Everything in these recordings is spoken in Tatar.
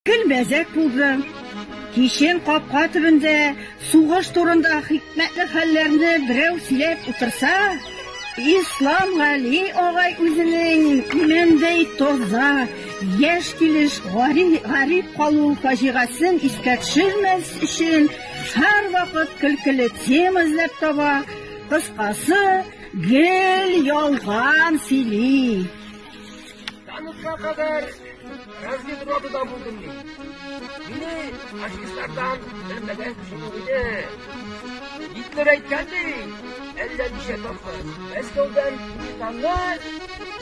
Көн бәзәк булды. Кичен капка төбендә сугыш турында хикмәтле хәлләрне берәү сөйләп утырса, Ислам Гали агай үзенең имәндәй тоза, яшь килеш гарип калу фаҗигасын искә төшермәс өчен һәрвакыт көлкеле тема эзләп таба, кыскасы, гел ялган сөйли. Таныкка кадәр разведрота булдым мин. Мине фашистлардан белмәгән чыгу иде. Гитлер әйткәнди, әллә ничә тапкыр. Мәскәүдән Китанны,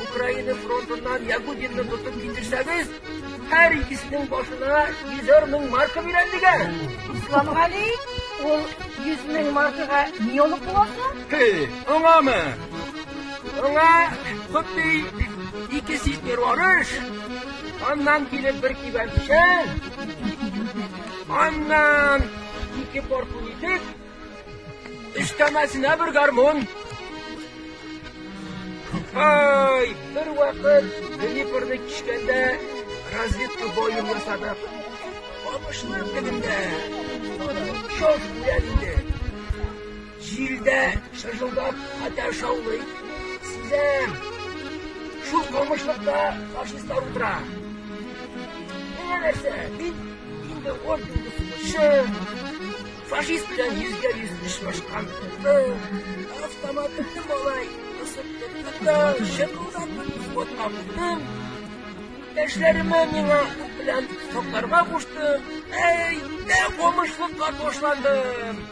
Украина фронтыннан Ягудинны тотып китерсәгез, һәр икесенең башына йөзәр мең марка бирәм дигән. Исламгали, ул йөз мең маркага ни алып буласың? Аңамы? Аңа хутты ике ситер арыш, аннан килеп бер кибән печән, аннан ике порпун итек, өстәмәсенә бер гармун. Ай, бер вакыт Днепрны кичкәндә разведка боем ясадык. Алпышлар көнендә шок белән инде. Җирдә шыжылдап хәтәр шаулый. Сизәм. Шул камышлыкта фашистлар утыра. Менә нәрсә, мин инде он елны сугышчы, фашист белән йөзгә йөз очрашкан кызны, автоматымны малай кысып тотты да, шыкылдатып взводка куйдым. Эшләремә миңа ут белән сокларга кушты. Әй, дә камышлыкка ташландым.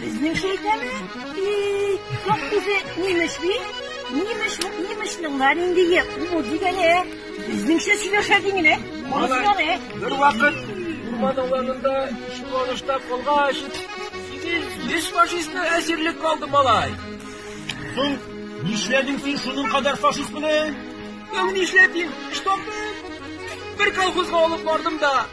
Безнеңчә әйтәме? Бик сак үзе нимеш бит. Нимеш бу нимешнең бар инде йә кул дигәне. Безнеңчә сөйләшә дигәне. Мазганы. Бер вакыт урман аланында чуалышта калгач, синең биш фашистны әсирлек калды малай. Соң нишләдең син шуның кадәр фашист белән? Яу нишләдең? Штабны бер колхозга алып бардым да,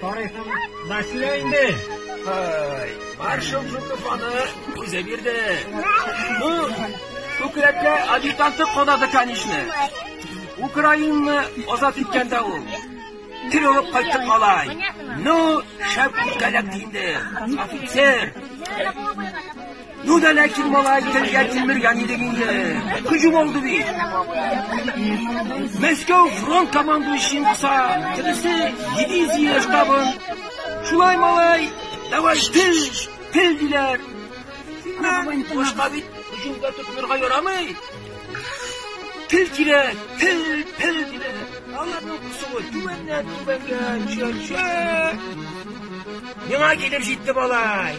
Тарихын да сөйлә инде. Маршал Жуков аны үзе бирде. Бу күкрәккә адъютанты кадады, конечно. Украинаны азат иткәндә ул. Тир алып кайттык малай. Ну, шәп үткәләк инде. Офицер. Ну да ләкин малай телгә тимергән идең инде. Күҗү булды бит. Мәскәү фронт командующин кыса, тиресе дивизия штабын. Шулай малай, давай тел, тел диләр. Башка бит күҗүгә тотмырга ярамый. Тел килә, тел, тел диләр. Аларның кысуы түбәннән түбәнгә төшә. Миңа килеп җитте малай.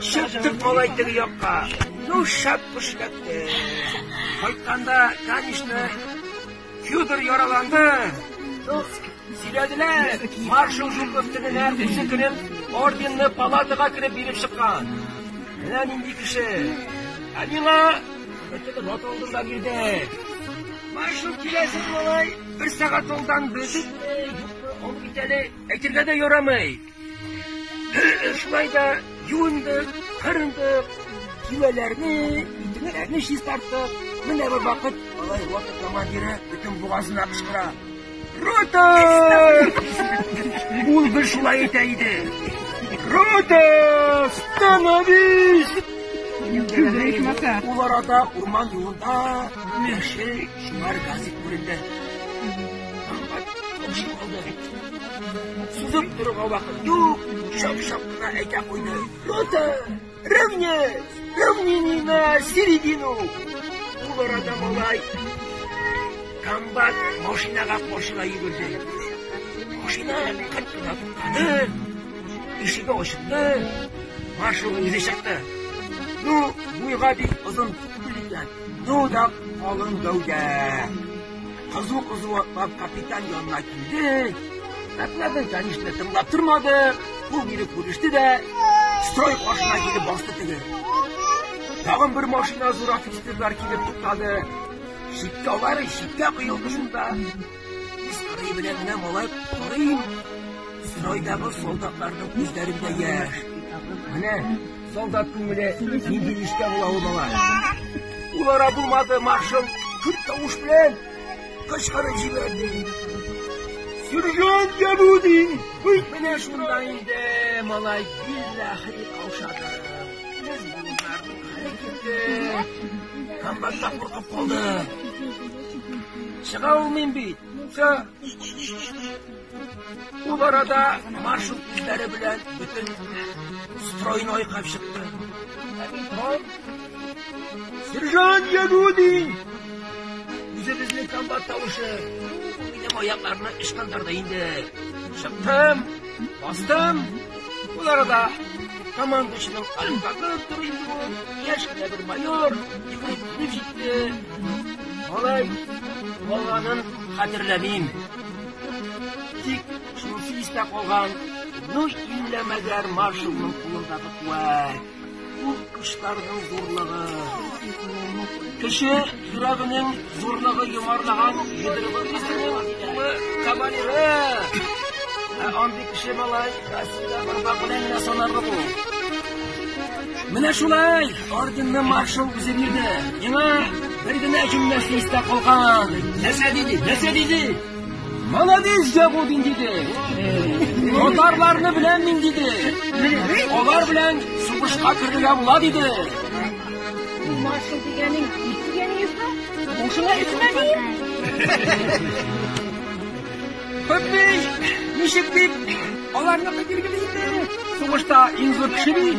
Чыктык малай теге якка. Ну, шәп куш кәтте. Кайтканда, конечно, Федор яраланды. Сөйләделәр, маршал Жуков тегенә үзе кереп, орденны палатага кереп биреп чыккан. Менә нинди кеше. Ә миңа бөтен рот алдында бирде. Маршал киләсе малай, бер сәгать алдан без юк, ул бит әле әйтергә дә ярамый. Шулай да юындык, кырындык, киләләрне, интегәләрне чистарттык. Менә бер вакыт алай ватып командиры бөтен бугазына кычкыра. Рота! Ул бер шулай әйтә иде. Рота! Становись! Ул арада урман юлында яшел шуңар газик күренде. Сузып торырга вакыт юк, шап-шап кына әйтә куйды. Рота, равнять, равнение на середину. Ул арада малай комбат машинага кошыла йөгерде. Машина кырт кына туктады, ишеге ачылды, маршал үзе чыкты. Ну, буйга бик озын түгел икән, ну да калын гәүдә. Кызу-кызу атлап капитан янына килде. Әпләбен тәнишне тыңлап тормады. Ул бире күреште дә, строй каршына килеп басты теге. Тагын бер машина зур офицерлар килеп туктады. Шиккә алары шиккә кыйылды шунда. Строй белән генә малай карыйм. Стройдагы солдатларның күзләрендә яшь. Менә Солдат күңеле нинди нечкә була ул бала. Ул ара булмады, маршал күп тавыш белән кычкырып җибәрде. Сержант Янудин! Уй, менә шунда инде, малай, биллахи каушады. Без булмарның хәле китте. Комбатта куркып калды. Чыга алмыйм бит. Все. Ул арада маршал күзләре белән бөтен стройны айкап чыкты. Сержант Ягуди! Үзебезнең комбат тавышы. Минем аякларны ычкындырды инде. Чыктым, бастым. Ул арада командучының аркасы туры яшь кенә бер майор йөгереп килеп җитте. Алай, баланың хәтерләмим. Тик шунысы истә калган, ну иллә мәгәр маршалның кулындагы куәт, ул кошларның зурлыгы. Кеше йөрәгенең зурлыгы йомарлаган йодрыгы кешенең кулы кавалеры. Ә андый кеше малай, Россиядә бармак белән генә санарлык ул. Менә шулай! Орденны маршал үзе бирде. Миңа бер генә җөмләсе истә калган. Нәрсә диде? Нәрсә диде? Молодец, Ягудин диде. Татарларны белән мин диде. Алар белән сугышка керергә була диде. Маршал дигәнең, дигәнең юкмы? Бушыңа исмә диеп. Хөббей, ничек дип, аларны кытыргыз инде. Сугышта иң зур кеше бит.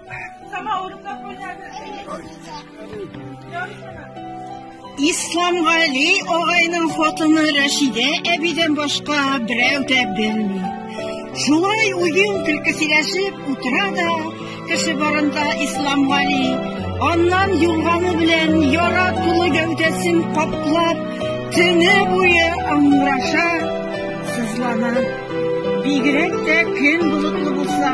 Исламгали агайның хатыны Рәшидә әбидән башка берәү дә белми. Шулай уен көлке сөйләшеп утыра да, кеше барында Исламгали аннан юлганы белән яра тулы гәүдәсен каплап, төне буе аңраша, сызлана. Бигрәк тә көн болытлы булса,